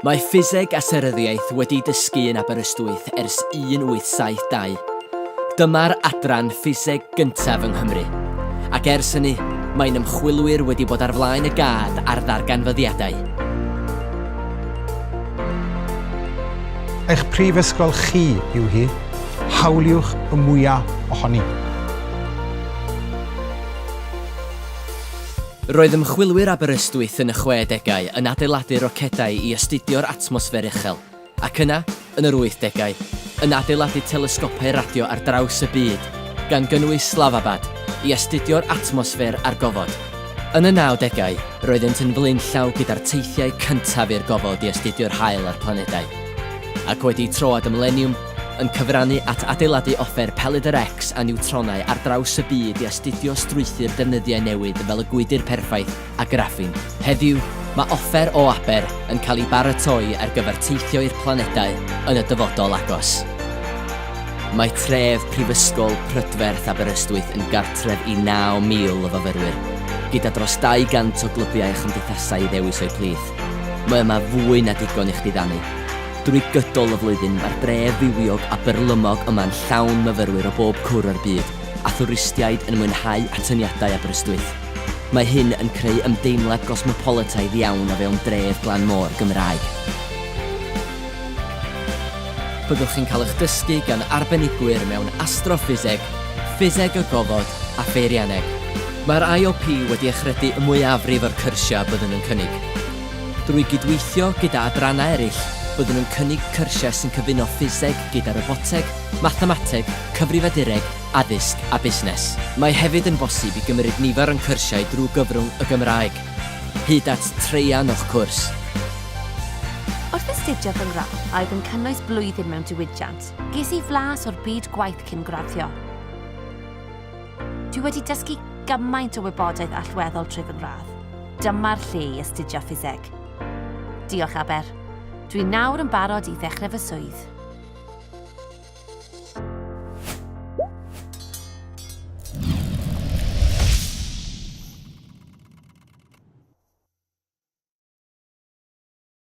Mae Ffiseg a Seryddiaeth wedi dysgu yn Aberystwyth ers 1872. Dyma'r adran ffiseg gyntaf yng Nghymru, ac ers hynny, mae'n ymchwilwyr wedi bod ar flaen y gad ar ddarganfyddiadau. Eich prifysgol chi yw hi, hawliwch y mwyaf ohoni. Roedd ymchwilwyr Aberystwyth yn y chwedegau yn adeiladu rocedau i astudio'r atmosffer uchel, ac yna, yn yr wythdegau, yn adeiladu telesgopau radio ar draws y byd, gan gynnwys Slavabad, i astudio'r atmosffer a'r gofod. Yn y nawdegau, roeddent yn flaenllaw gyda'r teithiau cyntaf i'r gofod i astudio'r haul a'r planedau. Ac wedi troad y mileniwm, yn cyfrannu at adeiladu offer pelyd yr X a niwtronau ar draws y byd i astudio strwythur defnyddiau newydd fel y gwydr perffaith a graffin. Heddiw, mae offer o aber yn cael ei baratoi ar gyfer teithio i'r planedau yn y dyfodol agos. Mae tref Prifysgol Prydferth Aberystwyth yn gartref i 9,000 o fyfyrwyr, gyda dros 200 o glybiau a chymdeithasau i ddewis o'u plith. Mae yma fwy na digon i'ch diddanu. Drwy gydol y flwyddyn mae'r dref fywiog a byrlymog yma'n llawn myfyrwyr o bob cwr o'r byd, a thwristiaid yn mwynhau atyniadau Aberystwyth. Mae hyn yn creu ymdeimlad gosmopolitaidd iawn o fewn dref glan môr Gymraeg. Byddwch chi'n cael eich dysgu gan arbenigwyr mewn astroffiseg, ffiseg y gofod a pheirianneg. Mae'r IOP wedi achredu y mwyafrif o'r cyrsiau byddwn yn cynnig. Drwy gydweithio gyda adrannau eraill, byddwn yn cynnig cyrsiau sy'n cyfuno ffiseg gyda roboteg, mathemateg, cyfrifiadureg, addysg a busnes. Mae hefyd yn bosib i gymryd nifer o'n cyrsiau drwy gyfrwng y Gymraeg, hyd at traean o'ch cwrs. Wrth astudio fy ngradd, a oedd yn cynnwys blwyddyn mewn diwydiant, ges i flas o'r byd gwaith cyn graddio. Dwi wedi dysgu gymaint o wybodaeth allweddol trwy fy ngradd. Dyma'r lle i astudio ffiseg. Diolch Aber. Dwi nawr yn barod i ddechrau fy swydd.